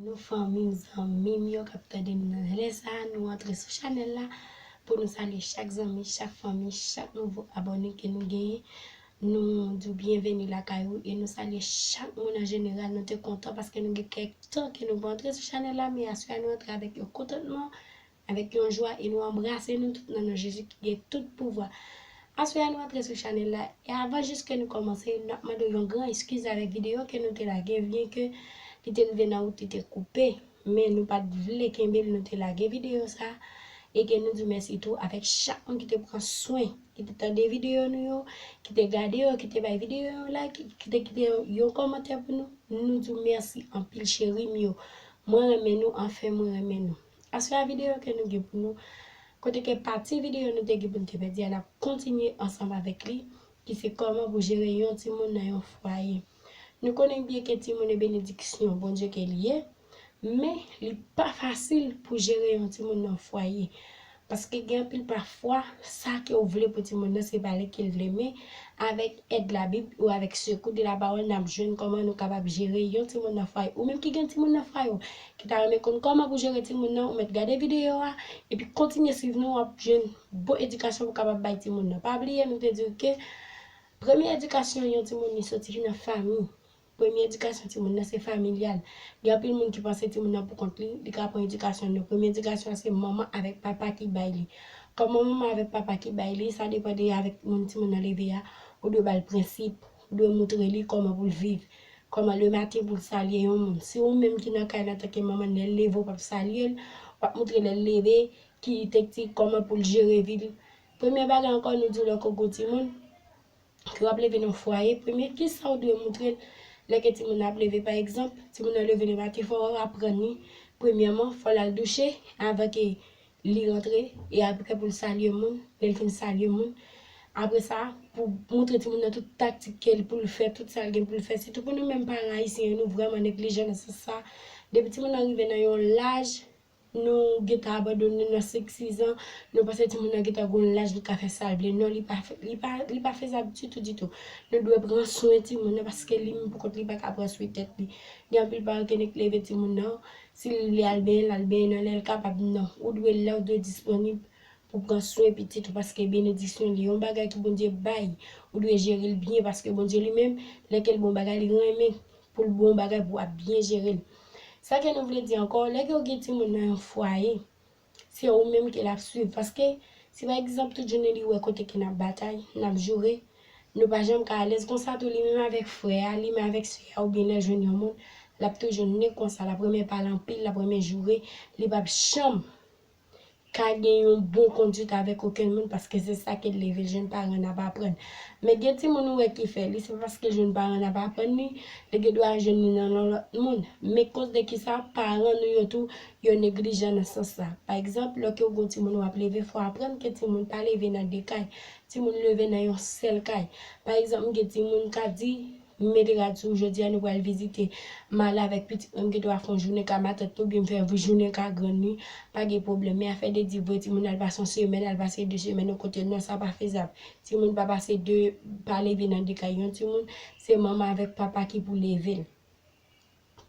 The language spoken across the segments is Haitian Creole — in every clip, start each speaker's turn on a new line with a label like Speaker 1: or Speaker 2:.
Speaker 1: Nou fanmim zanmim yo kap tandem nan lè sa nou antre sou chanèl la pou nou salye chak zanmi chak fanmi chak nouvo abòne ke nou genyen nou diw byenveni lakay ou e nou salye chak moun an jeneral nou te kontan paske nou gen kèk tan ke nou pa antre sou chanèl la men aswè a nou antre avèk yon kontantman Avèk yon jwa e nou anbrase nou tout nan non Jezi ki gen tout pouvwa. Aswè a nou antre sou chanèl la e avan jis ke nou kòmanse nap mande w yon gran eskiz avèk videyo ke nou te lage byen ke li te rive nan wout li te koupe men nou pat vle kenbe l nou te lage videyo sa e ke nou di w mèsi tou avèk chak moun ki te pran swen ki te tande videyo nou yo ki te gade yo ki te bay videyo yon like ki te kite yon kòmantè pou nou nou di w mèsi anpil cheri m yo mwen renmen nou anfen mwen renmen nou. Aswè a videyo ke nou gen pou nou, kote ke pati videyo nou te gen pou nou te pèdi a nap kontinye ansanm avèk li, ki se kòman pou jere yon timoun nan yon fwaye. Nou konnen byen ke timoun e benediksyon Bondye ke li ye, men li pa fasil pou jere yon timoun nan yon fwaye, paske gen anpil pafwa sa ke ou vle pou timoun nan se pa li ke l vle men avèk èd labib ou avèk sekou de lapawòl nap jwenn kòman nou kapab jere yon timoun nan fwaye. Ou menm ki gen timoun nan fwaye w, ki ta renmen konn kòman pou jere timoun nan ou mèt gade videyo a epi kontinye swiv nou wap jwenn bon edikasyon pou kapab bay timoun nan pa bliye nou te diw ke premye edikasyon yon timoun li soti ki nan fanmi premye edikasyon timoun nan se familyal gen anpil moun ki panse timoun nan pou kont li li ka pran edikasyon non premye edikasyon se manman avèk papa ki bay li kòman manman avèk papa ki bay li sa depan de avèk moun timoun nan leve a ou dwe bal prensip Ou dwe moutre li kòman pou l viv. Kòman lematen pou l salye yon moun. Si ou menm ki nan kay la antanke manman n lè l leve ou pap salye l, w ap moutre lè l leve ki tektik kòman pou l jere vi l. Premye bagay ankò nou di w lè w ko gwo timoun ke w ap leve nan fwaye, premye kisa ou dwe moutre l lè ke timoun nan ap leve. Pa egzanp, timoun nan leve lematen fò w aprann li premyèman fò l al douche avan ke Li rantre, e apre pou l salye moun, lè l fin salye moun, apre sa, pou montre timoun nan tout taktik ke l pou l fè, tout sa l gen pou l fè, sitou pou nou menm paran ayisyen yo, nou vrèman neglijan nan sans sa, depi timoun nan rive nan yon laj, nou gen tan abandone nan senk sizan, nou panse timoun nan gen tan gen yon laj li ka fè sa l vle, non li pa fè, li pa, li pa fezab ditou ditou, nou dwe pran swen timoun nan paske li menm pou kont li pa ka pran swen tèt li, gen anpil paran ke nèk leve timoun nan, Si li vle al benyen lal benyen nan lèl kapab nan, ou dwe lè ou dwe disponib pou pran swen pitit ou paske benediksyon li yon bagay ki Bondye bay ou dwe jerel byen paske Bondye li menm lè kel bon bagay li renmen poul bon bagay pou ap byen jerel sa ke nou vle di ankò lè ke ou gen timoun nan yon fwaye se ou menm ke lap swiv paske si pa egzanp tout jounen li wè kote ke nap batay, nap joure, nou pa janm ka alèz konsa tou li menm avèk frè a, li menm avèk sè a oubyen lèl jwenn yon moun lap toujou nen konsa lap renmen pale anpil, lap renmen joure, li pap janm ka gen yon bon konduit avèk okenn moun paske se sa kel leve jwenn paran nap aprann men gen timoun ou wè ki fè li se pa paske jwenn paran nap aprann li, li gen dwa jwenn li nan yon lòt moun men koz de kisa paran nou yo tou yo neglijan nan sans sa. Pa egzanp, lè ke ou gen yon timoun wap leve, fò w aprann ke timoun pa leve nan 2 kay, timoun leve nan yon sèl kay. Pa egzanp, m gen timoun m ka di, m mete rad sou ou jodi a nou pral vizite, m ale avèk pitit mwen m gen dwa fè yon jounen ka matant li oubyen m fè yon jounen ka grann li, pa gen pwoblèm. Men afè de di voye timoun al pase yon semèn, al pase 2 semèn yon kote, non sa pa fezab. Timoun pa pase 2, pa leve nan 2 kay. Yon timoun, se manman avèk papa ki pou leve l.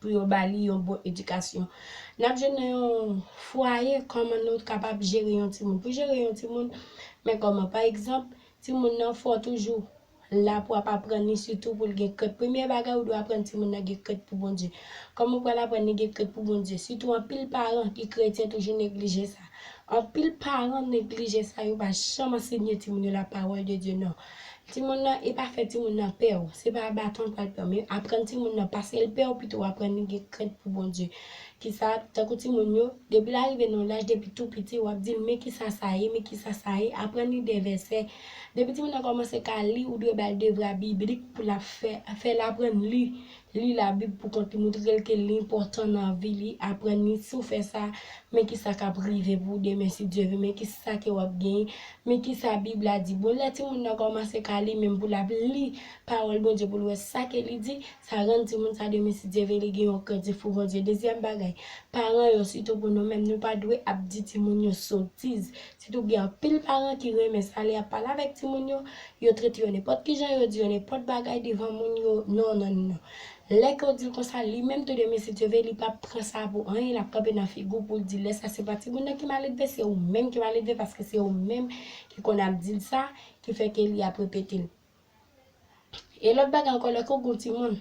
Speaker 1: pou yo ba li yon bon edikasyon. N ap jwenn nan yon fwaye kòman nou kapab jere yon timoun. Pou jere yon timoun, men kòman. Pa egzanp, timoun nan fè w toujou la pou w ap aprann li sitou pou l gen krent. Premye bagay ou dwe aprann timoun nan gen krent pou Bondye. Kòman ou pral aprann li gen krent pou Bondye? Sitou anpil paran ki kretyen toujou neglije sa. Anpil paran neglije sa, yo pa janm ansenye timoun yo lapawòl de Dye non. Timoun nan e pa fè timoun nan pè ou. Se pa baton l pral pran men aprann timoun nan pase l pè ou pito w aprann li gen krent pou Bondye. Kisa, tankou timoun yo, depi l arive nan yon laj depi tou piti w ap di l men kisa sa ye, men kisa sa ye, aprann li de vèsè. Depi timoun nan kòmanse ka li ou dwe ba l devra biblik pou l ap fè, fè l aprann li Li Labib pou kont li montre l ke li enpòtan nan vi li, aprann li, si w fè sa, men ki sa k ap rive pou ou demen si Dye vle, men ki sa ke w ap genyen, men ki sa Bib la di. Bon, lè timoun nan kòmanse ka li menm pou l ap li Pawòl Bondye pou l wè sa ke li di, sa rann timoun sa demen si Dye vle li gen yon krentif pou Bondye. Dezyèm bagay, paran yo, sitou pou nou menm, nou pa dwe ap di timoun yo sotiz. Sitou gen anpil paran ki renmen sa lè y ap pale avèk timoun yo, yo trete yo nenpòt ki jan, yo di yo nenpòt bagay devan moun yo, nonnonnnon. Lè ke w di l konsa, li menm tou demen si Dye ve li p ap pran sa pou anyen, l ap kanpe nan figi w pou l di lè sa se pa timoun nan ki maledve, se ou menm ki maledve paske se ou menm ki konn ap di l sa ki fè ke li ap repete l. E lòt bagay ankò lè ke w gen yon timoun,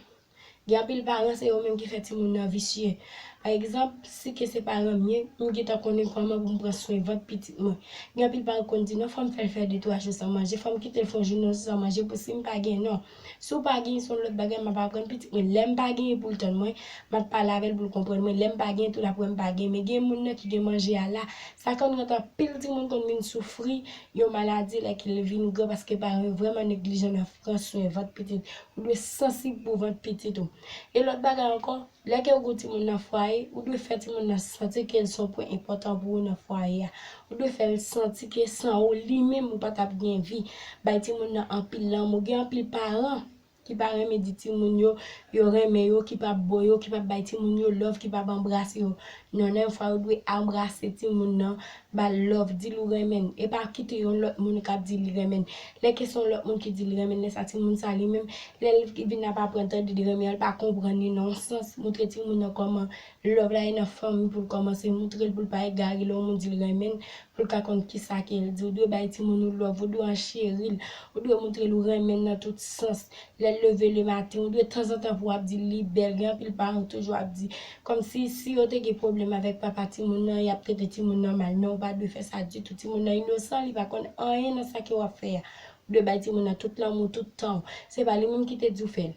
Speaker 1: gen anpil paran se yo menm ki fè timoun nan visye. Pa egzanp, si ke se paran m ye, m gentan konnen kòman pou m pran swen vant pitit mwen. Gen anpil paran ki konn di non fò m fè l fè de twa jou san manje, fò m kite l fè yon jounen san manje pou si m pa gen non. Si w pa gen se yon lòt bagay m ap aprann pitit mwen lè m pa gen pou l tann mwen, m ap pale avè l pou l konprann mwen lè m pa gen tou l ap wè m pa gen men gen moun nan ki gen manje a la. Sa konn rantre anpil timoun konn vin soufri Yon maladi lè ke l vin gran paske paran yo vrèman neglijan nan pran swen vant pitit. Ou dwe sansib pou vant pitit ou. E lòt bagay ankò, lè ke ou gen yon timoun nan fwaye, ou dwe fè timoun nan santi ke l se yon pwen enpòtan pou ou nan fwaye a. Ou dwe fè l santi ke san ou, li menm ou pa t ap gen vi. Bay timoun nan anpil lanmou. Gen anpil paran ki pa renmen di timoun yo, yo renmen yo, ki pap bo yo, ki pap bay timoun yo love, ki pap anbrase yo. Non nan yon fwa yo dwe anbrase timoun nan, ba l love, di l ou renmen l. E pa kite yon lòt moun k ap di li renmen l. Lè ke se yon lòt moun ki di li renmen l, lè sa timoun sa li menm, lè l vin ap aprann tande de renmen an, l pa konprann li nan yon sans, montre timoun nan kòman Love la e nan fanmi poul kòmanse moutrel poul pa egare lè yon moun dil renmenn poul ka konn kisa kel di ou dwe bay timoun ou love ou dwe an cheril ou dwe moutrel ou renmenn nan tout sans lèl leve le maten ou dwe tanzantan pou wap dil li bèl gen anpil paran toujou ap di kòmsi si yo te gen pwoblèm avèk papa timoun nan yap trete timoun nan mal men ou pa dwe fè sa ditou timoun nan inosan li pa konn anyen nan sa ke wap fè a ou dwe bay timoun nan tout lanmou tout tanw se pa li menm ki te diw fèl.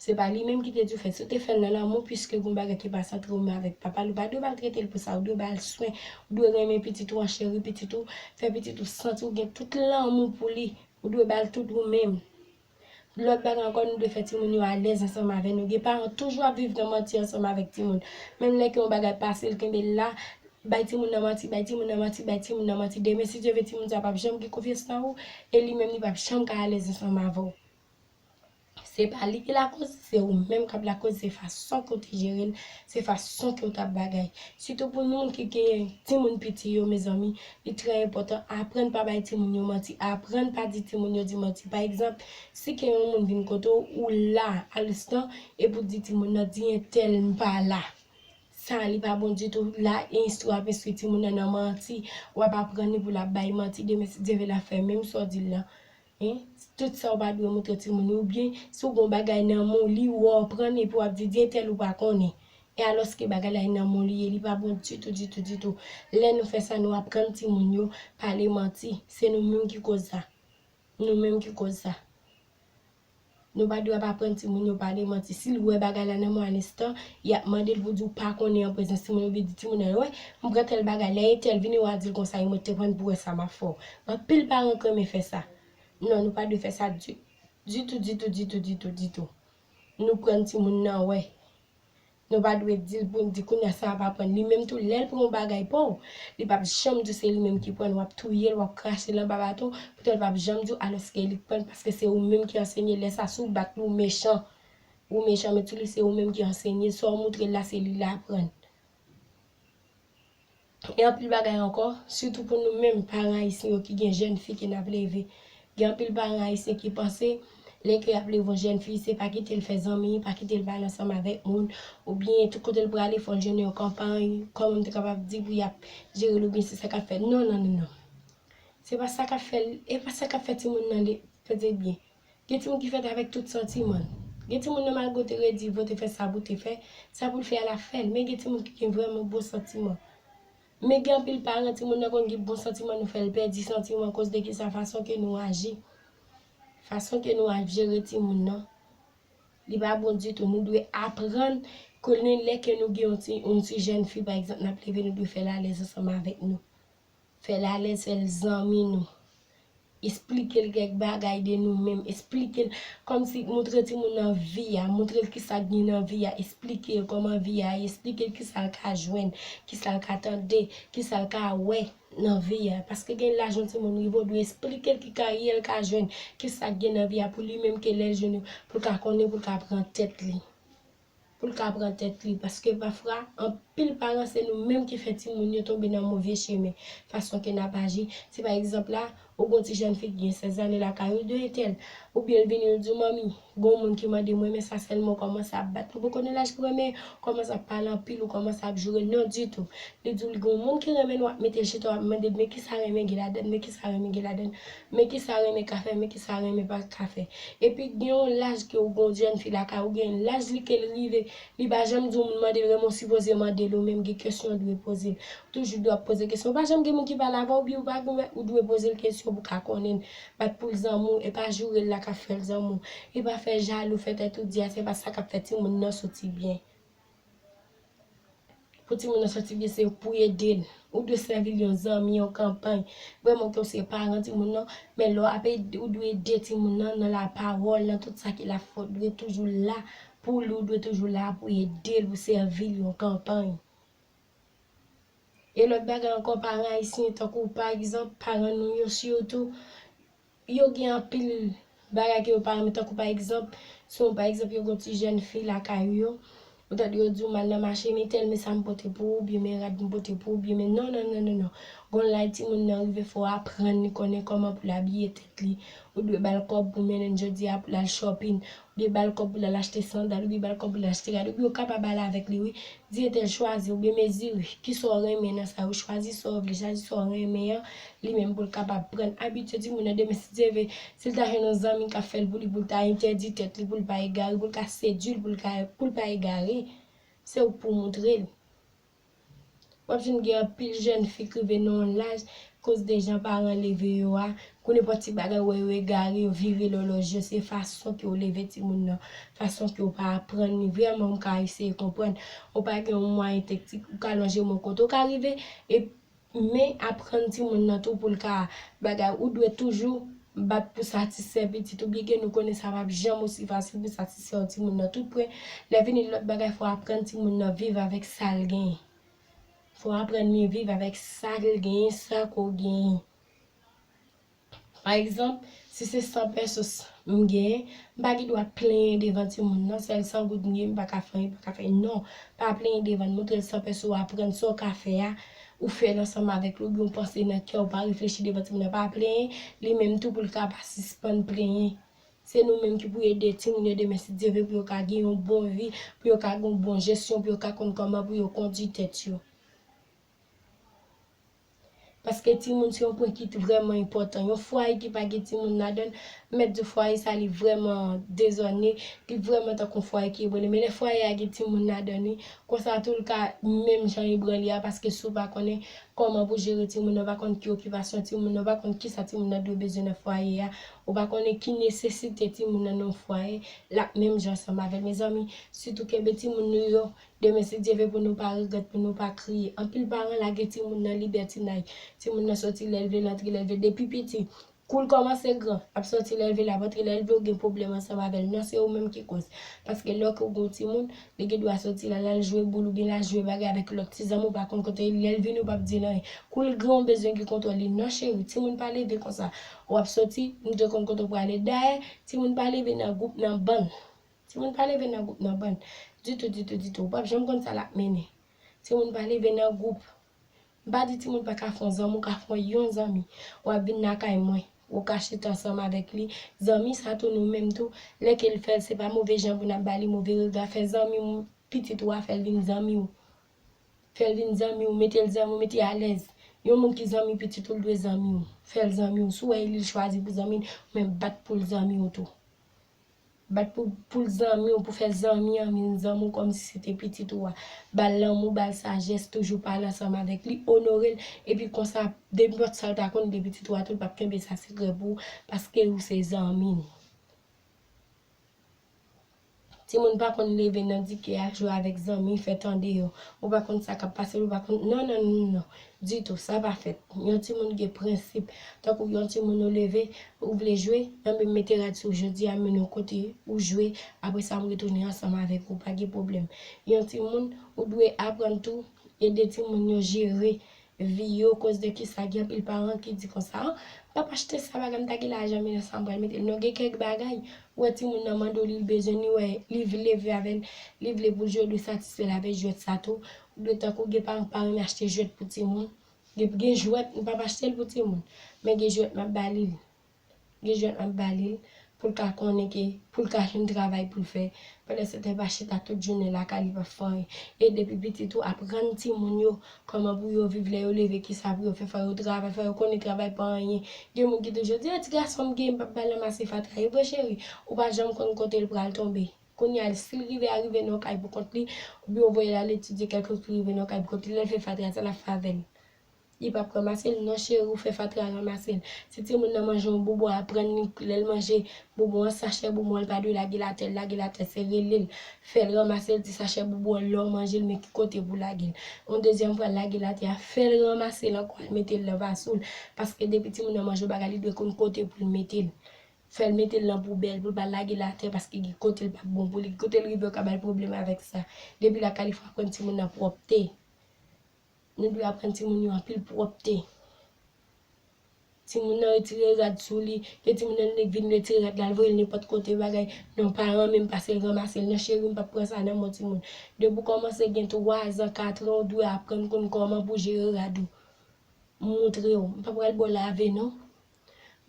Speaker 1: Se pa li menm ki te di w fè l. Si w te fè l nan lanmou, piske gen yon bagay ki pa santre w menm avèk papa l, ou pa dwe maltrete l pou sa. Ou dwe ba l swen. Ou dwe renmen pitit ou an, cheri pitit ou, fè pitit ou santi w gen tout lanmou pou li. Ou dwe ba l tout ou menm. Lòt bagay ankò, nou dwe fè timoun yo alèz ansanm avè nou. Gen paran k toujou ap viv nan manti ansanm avèk timoun. Menm lè ke yon bagay pase, l kenbe l la, bay timoun nan manti, bay timoun nan manti, bay timoun nan manti. Demen, si Dye vle, timoun sa a pap janm gen konfyans nan ou e li menm li pap janm ka alèz ansanm avè w. Se pa li ki lakoz, se ou menm kap lakoz, se fason ke w te jere l, se fason ke w tap bagay. Sitou pou moun ki gen timoun piti yo mezanmi, li trè enpòtan, aprann pa bay timoun yo manti, aprann pa di timoun yo di manti. Pa egzanp, si ke yon moun vin kote w, ou la a lstan, epi w di timoun nan, di entèl m pa la. Sa a li pa bon ditou, la enstri w ap enstri timoun nan nan manti, w ap aprann li pou l ap bay manti, demen si Dye vle l ap fè menm sa w di l lan. Hein tout sa ou pa dwe moutre timoun yo ou byen si ou gen yon bagay nan men w li ou anprann epi wap di di entèl ou pa konnen e alòske bagay la e nan men w li ye li pa bon ditou ditou ditou lè nou fè sa nou aprann timoun yo pale manti se nou menm ki koz sa nou menm ki koz sa. Nou pa dwe ap aprann timoun yo pale manti. Si l wè bagay la nan mwayen estan, y ap mande l pou l di w pa konnen an prezans timoun oubyen di timoun nan yo, wè, m pran tèl bagay, lè entèl vini wa di l konsa e mwen te prann pou wè sa m ap fè w. Anpil paran k renmen fè sa. Non, nou pa dwe fè sa ditou, ditou, ditou, ditou, ditou. Nou prann timoun nan wè. Nou pa dwe di l pou n di kounya sa a pa pran n. Li menm tou, lè l pran yon bagay pa w, li pap janm di w se li menm ki pran l. W ap touye l, w ap krache l anba baton, poutan l pap janm di w alòske li k pran l paske se ou menm ki ansenye. Lè sa a, si w bat li, w mechan. Ou mechan, men tou li se ou menm ki ansenye. Sa w moutre l la, se li l aprann. Gen anpil bagay ankò, sitou pou nou menm paran ayisyen yo ki gen jèn fi ke nap leve. Gen anpil paran ayisyen ki panse lè ke yap leve yon jèn fi se pa kite l fè zanmi, pa kite l pale ansanm avèk moun, oubyen tout kote l prale fò l jwenn yon konpay, kòman m te kapab di pou yap jere l oubyen se sa kap fè, non non non non. Se pa sa kap fè l, e pa sa kap fè timoun nan li, tande byen, Gen timoun ki fèt avèk tout santiman l. Gen timoun nan malgre w te redi pou w te fè sa pou w te fè, sa pou l fè a l ap fè l. Men gen timoun ki gen vrèman bon santiman. Men gen anpil paran timoun nan konn gen bon santiman nou fè l pèdi santiman koz de kisa fason ke nou aji. Fason ke nou ap jere timoun nan li pa bon ditou. Nou dwe aprann konnen lè ke nou gen yon ti yon ti jèn fi pa egzanp n ap leve nou dwe fè l alèz ansanm avèk nou. Fè l alèz fè l zanmi nou. Esplike l kèk bagay de nou menm, esplike l kòmsi moutre timoun nan vi a, moutre l kisa k gen nan vi a, esplike l kòman vi a ye, esplike l kisa l ka jwenn, kisa l ka tande, kisa l ka wè nan vi a. Paske gen laj yon timoun rive ou dwe esplike l ki karyè l ka jwenn, kisa k gen nan vi a pou li menm ke lè l jwenn yo pou l ka konnen pou l ka pran tèt li. poul ka pran tèt li paske pafra anpil paran se nou menm ki fè timoun yo tonbe nan move chemen fason ke nap aji si pa egzanp la ou gon ti jèn fi ki gen 16 ane lakay ou de entèl oubyen l vini l diw manmi gon moun ki mandem renmen sa sèlman ou kòmanse ap bat nou poko nan laj pou renmen ou kòmanse ap pale anpil ou kòmanse ap jourel non ditou li diw li gon moun ki renmenl wap mete chita wap mandel men kisa renmen gen ladann men kisa renmen gen ladann Men kisa renmen ka fè men kisa renmen pa ka fè epi gen yon laj ke ou gen yon jèn fi lakay ou gen laj li kel rive li pa janm di ou moun mandel renmen ou sipoze mandel ou menm gen kesyon ou dwe pozel ou toujou dwe ap poze kesyon ou pa janm gen moun ki pale avèw biw pa gen ou dwe pozel kesyon pou ka konnenl bat poul zanmi w epa jourel la kap fèl zanmi w epa fè jalou fè tèt ou di a se pa sa kap fè timoun nan soti byen. Pou timoun nan santi byen se pou ede l. Ou dwe sèvi l yon zanmi, yon kanpay. Vrèman ke w se paran timoun nan, men lè w ap ede, ou dwe ede timoun nan nan lapawòl, nan tout sa ki la fè. Ou dwe toujou la pou li, ou dwe toujou la pou ede l, pou sèvi l yon kanpay. E lòt bagay ankò, paran ayisyen tankou pa egzanp, paran nou yo sitou, Yo gen anpil bagay ke yo pa renmen tankou pa egzanp, si yon pa egzanp yo gen yon ti jèn fi lakay ou yo, ou tande yo di ou m al nan mache men tèl men sa m pote pou ou oubyen men rad m pote pou ou oubyen men non non non non non gon lay timoun nan rive fò aprann li konnen kòman pou l abiye tèt li ou dwe ba l kòb pou mennen l jodi a pou l al shopping Byen bal kòb poul al achte sandal oubyen bal kòb poul achte rad oubyen ou kapab al avèk li wi di entèl chwazi oubyen mezire kisaw renmen nan sa yo chwazi saw vle chwazi saw renmen an li menm poul kapab prann abitye timoun nan demen si Dye ve sil ta jwenn yon zanmi kap fèl pou li poul ta entèdi tèt li poul pa egare poul ka sedwil poul ka poul pa egare se ouk pou moutrel. Wap jwenn gen anpil jèn fi k rive nan yon laj koz de jan paran leve yo a, kou nenpòt ti bagay wè yo egare yo vire lòlòj yo se fason ke w leve timoun nan, fason ke w pa aprann li vrèman m ka eseye konprann, ou pa gen yon mwayen teknik ou ka lonje men w kote w ka rive e Men aprann timoun nan tou poul ka bagay ou dwe toujou bat pou satisfè pitit ou byen ke nou konnen sa pap janm osi fasil pou satisfè yon timoun nan tout prè lè vini lòt bagay fò aprann timoun nan viv avèk sal genyen fò aprann li viv avèk sal genyen sa ke w genyen. Pa egzanp, si se 100 pesos m gen, m pa gen dwa plenyen devan timoun nan, sèl 100 goud m gen, m pa ka fè anyen, pa ka fè anyen. Non, pa plenyen devan l, montre l 100 peso a, pran sa w ka fè a, ou fè l ansanm avèk li, oubyen w panse nan kè w, pa reflechi devan timoun nan, pa plenyen, li menm tou pou l ka pa sispann plenyen. Se nou menm ki pou ede timoun yo demen si Dye vle pou yo ka gen yon bon vi, pou yo ka gen yon bon jesyon, pou yo ka konn kòman pou yo kondui tèt yo. Paske timoun se yon pwen ki vrèman enpòtan. Yon fwaye ki pa gen timoun ladan l, mèt di fwaye sa li vrèman dezòne, li vrèman tankou yon fwaye ki ebrale. Men lè fwaye a gen timoun ladan li, konsa tou l ka menm jan ebrale a paske si w pa konnen kòman pou jere timoun nan, w pa konn ki okipasyon timoun nan, w pa konn ki sa timoun nan dwe bezwen nan fwaye a, ou pa konnen ki nesesite timoun nan nan yon fwaye, l ap menm jan ansanm avè l. Mezanmi, sitou kenbe timoun nou yo Demen si Dye ve pou nou pa regrèt pou nou pa kriye anpil paran lage timoun nan libètinay timoun nan soti lèl vle lantre lèl vle depi piti koul kòmanse gran lap soti lèl vle lap antre lèl vle ou gen pwoblèm ansanm avèl non se ou menm ki kòz paske lè ke ou gon timoun li gen dwa soti la lal jwe boul oubyen lal jwe bagay avèk lòt ti zanmi ou pa konn kote lèl vini ou pap dil anyen koul gran ou bezwen gen kontwòl li non cheri timoun pa leve konsa wap soti nou te konn kote ou prale dayè timoun pa leve nan gwoup nan bann Timoun pa leve nan gwoup nan bann. Ditou, ditou, ditou. Ou pap janm konn sa l ap mennen. Timoun pa leve nan gwoup. M pa di timoun pa ka fè yon zanmi, ou ka fè yon zanmi. W ap vin lakay mwen, ou ka chita ansanm avèk li. Zanmi sa tou nou menm tou, lè ke l fè l, se pa move jan pou n ap ba li move rega. Fè zanmi w, pitit ou a, fè l vin zanmi w. Fè l vin zanmi w, mete l zanmi w, mete l alèz. Yon moun ki zanmi pitit ou, l dwe zanmi w. Fè l zanmi w. Si w wè li, li chwazi pou zanmi l, ou menm bat pou l zanmi w tou. Bat pou poul zanmiw pou fè zanmi an vin zanmiw kòmsi se te pitit ou a bal lanmou bal sajès toujou pale ansanm avèk li onorel epi konsa nenpòt sal ta konn de pitit ou a tou li pap kenbe sa sekrè pou ou paske ou se zanmi li timoun pa konn leve nan dike al jwe avèk zanmi fè tande yo ou pa konn sa kap pase ou pa konn nonnnnnnonn Ditou, sa pa fèt. Yon timoun gen prensip. Tankou yon timoun ou leve, ou vle jwe, anben m mete rad sou ou jodi a, m mennen w kote, ou jwe, apre sa m retounen ansanm avèk ou, pa gen pwoblèm. Yon timoun, ou dwe aprann tou, ede timoun yo jere vi yo, koz de kisa gen anpil paran ki di konsa, an, m pap achte sa, bagay m ta gen lajan men nan sa m pral mete l. Non gen kèk bagay, ou wè timoun nan mande w li l bezwen, li wè li vle vle avè l, li vle pou l jwe, ou dwe satisfè l avèk jwèt sa tou, Ou dwe tankou gen paran pa renmen achte jwèt pou timoun. Depi gen jwèt, m pap achte l pou timoun. Men gen jwèt m ap ba li l. Gen jwèt m ap ba li l pou l ka konnen ke pou l ka jwenn travay pou l fè. Pandan se tan l pa chita tout jounen l lakay li pa fè anyen. E depi piti tou aprann timoun yo kòman pou yo viv lè yo leve ki sa pou yo fè. Fò yo travay, fò yo konnen travay pa anyen. Gen moun ki toujou di, o ti gason m gen m pap ba l ranmase fatra. Evre cheri, ou pa janm konn kote l pral tonbe. Kounye a, si l rive a rive nan yon kay pou kont li, oubyen yo voye l al etidye kèk lòt ki rive nan yon kay pou kont li, lè l fè fatra, sa l ap fè avè l? Li pap ranmase l? Non cheri, ou fè fatra, ranmase l. Si timoun nan manje yon bonbon, aprann li, lè l manje bonbon an, sachè bonbon an li pa dwe lage l atè, lage l atè, se rele l, fè l ranmase l, di sachè bonbon an lè w manje l men ki kote pou w lage l. Yon dezyèm fwa l lage l atè a, fè l ranmase l ankò al mete l nan vaso l, paske depi timoun nan manje yon bagay li dwe konn kote pou l mete l. fèl metel nan poubèl poul pa lagel atè paske gen kotel pap bon pou li gen kotel rive yo ka bal pwoblèm avèk sa depi lakay li fò aprann timoun nan pwòpte nou dwe aprann timoun yo anpil pwòpte timoun nan retire rad sou li gen timoun nan li vin retire rad lal voyel nenpòt kote bagay non paran menm pasel ranmasel nan cheri m pap pran sa nan men timoun depi ou kòmanse gen 3 zan 4 an ou dwe aprann konn kòman pou jere rad ou m moutrew m pa pral baw lave non.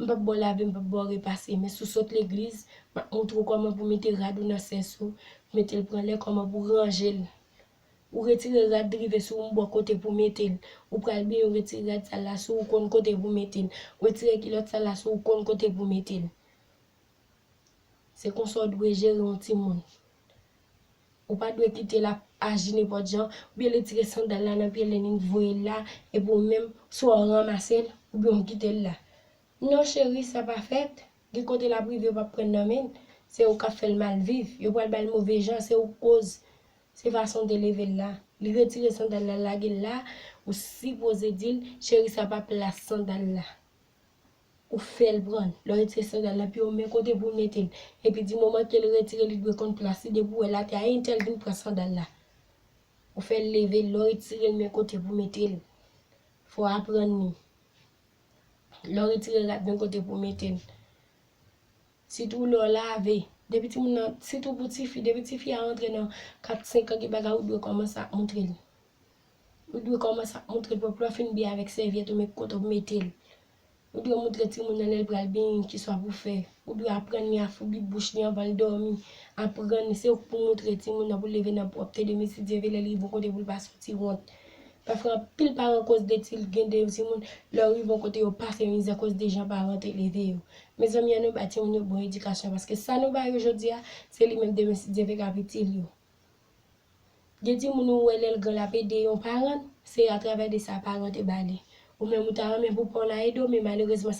Speaker 1: M pap ba w lave, m pap ba w repase, men si w sot legliz, m ap moutre w kòman pou w mete rad ou nan sens ou, pou w mete l pran lè, kòman pou w ranje l. Ou retire rad drive sou ou, m ba w kote pou w mete l. Ou pral benyen, ou retire rad sal la sou ou, ou konn kote pou w mete l. Ou retire kilòt sal la sou ou, ou konn kote pou w mete l. Se konsa w dwe jere yon timoun. Ou pa dwe kite l ap aji nenpòt jan, oubyen retire sandal la nan pye Lenin voye l la, epi ou menm swa w ranmase l, oubyen w kite l la. Non cheri sa pa fèt, gen kote l ap rive yo p ap pran nan men l, se ou k ap fè l mal viv, yo pral ba l move jan, se ou k koz, se fason w te leve l la. Li retire sandal la l lage l la, ou sipoze di l, cheri sa pa plas sandal la. Ou fèl pran l, lè w retire sandal la piye w men kote pou w mete l, epi di moman ke l retire li dwe konn plas li depi w wè l atè a entèl vin pran sandal la ou fè l leve l lè w retire l men kote pou w mete l fò w aprann li lè w retire rad men kote pou w mete l sitou lè w lave depi timoun nan sitou pou tifi depi tifi a rantre nan 4 senkan gen bagay ou dwe kòmanse ap montre l Ou dwe kòmanse ap moutre pwòp lè w fin byen avèk sèvyèt ou men ki kote w mete l. Ou dwe moutre timoun nan lè l pral beny ki swa pou fè. Ou dwe aprann li afoubi bouch li anvan l dòmi. Aprann se ou k pou moutre timoun nan pou l leve nan pwòpte de mesi Dye vle lè li rive yon kote pou l pa santi wont. Pafwa anpil paran koz de ti l gen de yon timoun lè yo rive yon kote yo pase mizè koz de jan paran an te leve yo. Mezanmi an nou ba timoun yo bon edikasyon paske sa nou ba yo jodi a se li menm demen si Dye vle k ap itil yo. Gen timoun ou wè lèl gran lap ede yon paran, se atravè de sa paran te ba li. Ou menm ou ta renmen pou paw la ede w men malerezman sa